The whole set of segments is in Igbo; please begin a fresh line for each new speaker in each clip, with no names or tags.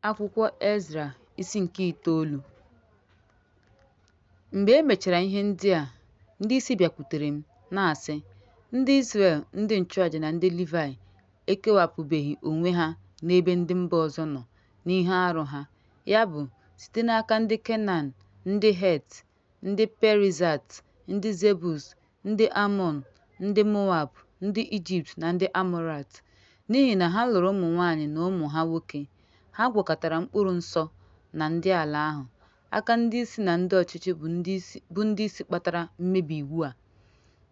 Akwụkwọ Ezra isi nke itoolu Mgbe e mechara ihe ndị a, ndị isi bịakwutere m na-asị, Ndị Izrel, ndị nchụaja na ndị Livaị ekewapụbeghị onwe ha n'ebe ndị mba ọzọ nọ n'ihe arụ ha, ya bụ, site n'aka ndị Kenan, ndị Het, ndị Perizat, ndị Zebus, ndị Amọn, ndị Moab, ndị Ijipt na ndị Amọrait, n'ihi na ha lụrụ ụmụ nwaanyị na ụmụ ha nwoke. Ha gwakọtara mkpụrụ nsọ na ndị ala ahụ. Aka ndị isi na ndị ọchịchị bụ ndị isi bụ ndị isi kpatara mmebi iwu a.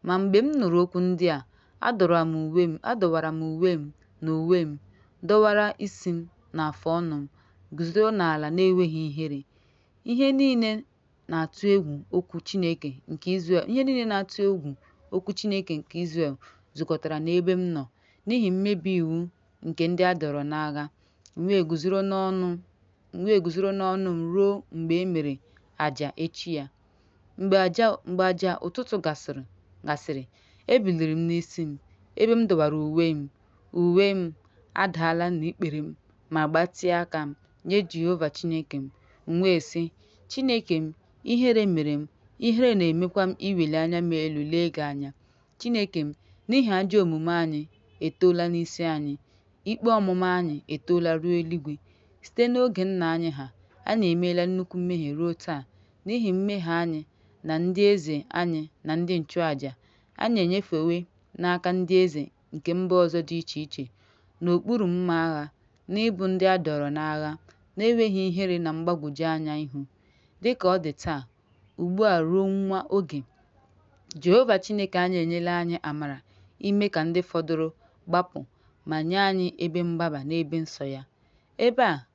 Ma mgbe m nụrụ okwu ndị a, adọwara m uwe m, adọwara m uwe m na uwe m, dọwara isi m na afụ ọnụ m, guzoro n'ala na-enweghị ihere. Ihe niile na-atụ egwu okwu Chineke nke Izrel, ihe niile na-atụ egwu okwu Chineke nke Izrel zukọtara n'ebe m nọ n'ihi mmebi iwu nke ndị a dọrọ n'agha. M wee guzoro n'ọnụ m wee guzoro n'ọnụ m ruo mgbe e mere aja echi ya. Mgbe aja mgbe aja ụtụtụ gasịrị gasịrị, ebiliri m n'isi m, ebe m dọwara uwe m. Uwe m adaala na ikpere m ma gbatịa aka m nye Jehova Chineke m, m wee sị, Chineke m, ihere mere m, ihere na-emekwa m iweli anya m elu lee gị anya. Chineke m, n'ihi ajọ omume anyị etoola n'isi anyị, ikpe ọmụma anyị etoola ruo eluigwe. Site n'oge nna anyị ha, anyị emeela nnukwu mmehie ruo taa. N'ihi mmehie anyị na ndị eze anyị na ndị nchụaja, anyị enyefewe n'aka ndị eze nke mba ọzọ dị iche iche n'okpuru mma agha na ịbụ ndị a dọrọ n'agha na-enweghị ihere na mgbagwoju anya ihu. Dị ka ọ dị taa, ugbu a ruo nwa oge, Jehova Chineke anyị enyela anyị amara ime ka ndị fọdụrụ gbapụ ma nye anyị ebe mgbaba n'ebe nsọ ya. Ebe a,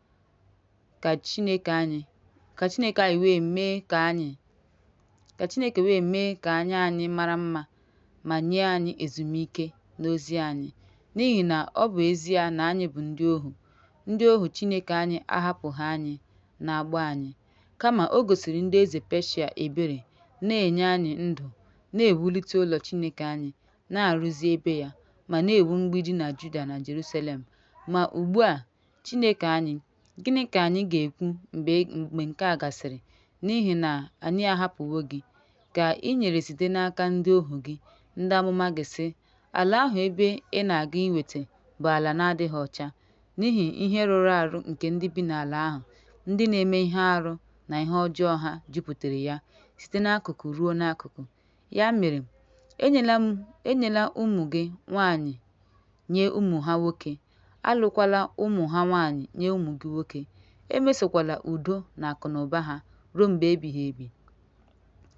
ka Chineke anyị ka Chineke anyị wee mee ka anyị ka Chineke wee mee ka anya anyị mara mma ma nye anyị ezumike n'ozi anyị n'ihi na ọ bụ ezie na anyị bụ ndị ohu ndị ohu Chineke anyị ahapụghị anyị n'agbụ anyị kama o gosiri ndị eze Peshia ebere na-enye anyị ndụ na-ewulite ụlọ Chineke anyị na-arụzi ebe ya ma na-ewu mgbidi na Juda na Jerusalem ma ugbu a Chineke anyị, gịnị ka anyị ga-ekwu mgbe mgbe nke a gasịrị? N'ihi na anyị ahapụwo gị, ka i nyere site n'aka ndị ohu gị, ndị amụma gị, sị, Ala ahụ ebe ị na-aga iweta bụ ala na-adịghị ọcha, n'ihi ihe rụrụ arụ nke ndị bi n'ala ahụ, ndị na-eme ihe arụ na ihe ọjọọ ha jupụtara ya site n'akụkụ ruo n'akụkụ. Ya mere, enyela ụmụ gị nwaanyị nye ụmụ ha nwoke, alụkwala ụmụ ha nwaanyị nye ụmụ gị nwoke, emesokwala udo na akụnụba ha ruo mgbe ebighị ebi,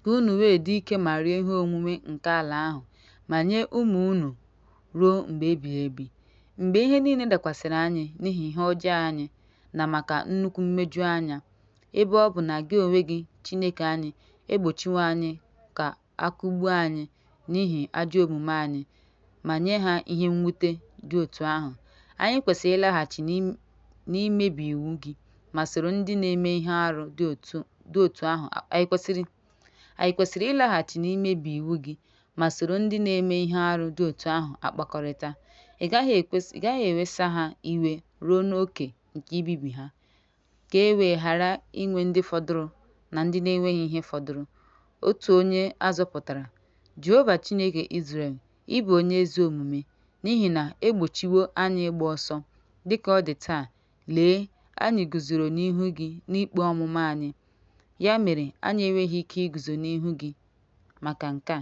ka unu wee dị ike ma rie ihe onwunwe nke ala ahụ, ma nye ụmụ unu ruo mgbe ebighị ebi. Mgbe ihe niile dakwasịrị anyị n'ihi ihe ọjọọ anyị na maka nnukwu mmeju anya, ebe ọ bụ na gị onwe gị, Chineke anyị, egbochiwo anyị ka a kụgbuo anyị n'ihi ajọ omume anyị ma nye ha ihe mwute dị otu ahụ. Anyị kwesịrị ịlaghachi n'imebi iwu gị ma, anyị kwesịrị ịlaghachi n'imebi iwu gị ma soro ndị na-eme ihe arụ dị otu ahụ akpakọrịta. Ị gaghị ewesa ha iwe ruo n'oke nke ibibi ha. ka e wee ghara inwe ndị fọdụrụ na ndị na-enweghị ihe fọdụrụ. Otu onye a zọpụtara, Jehova Chineke Izrel, ị bụ onye ezi omume, n'ihi na e gbochiwo anyị ịgba ọsọ. Dị ka ọ dị taa, lee, anyị guzoro n'ihu gị n'ikpe ọmụma anyị, ya mere anyị enweghị ike iguzo n'ihu gị maka nke a.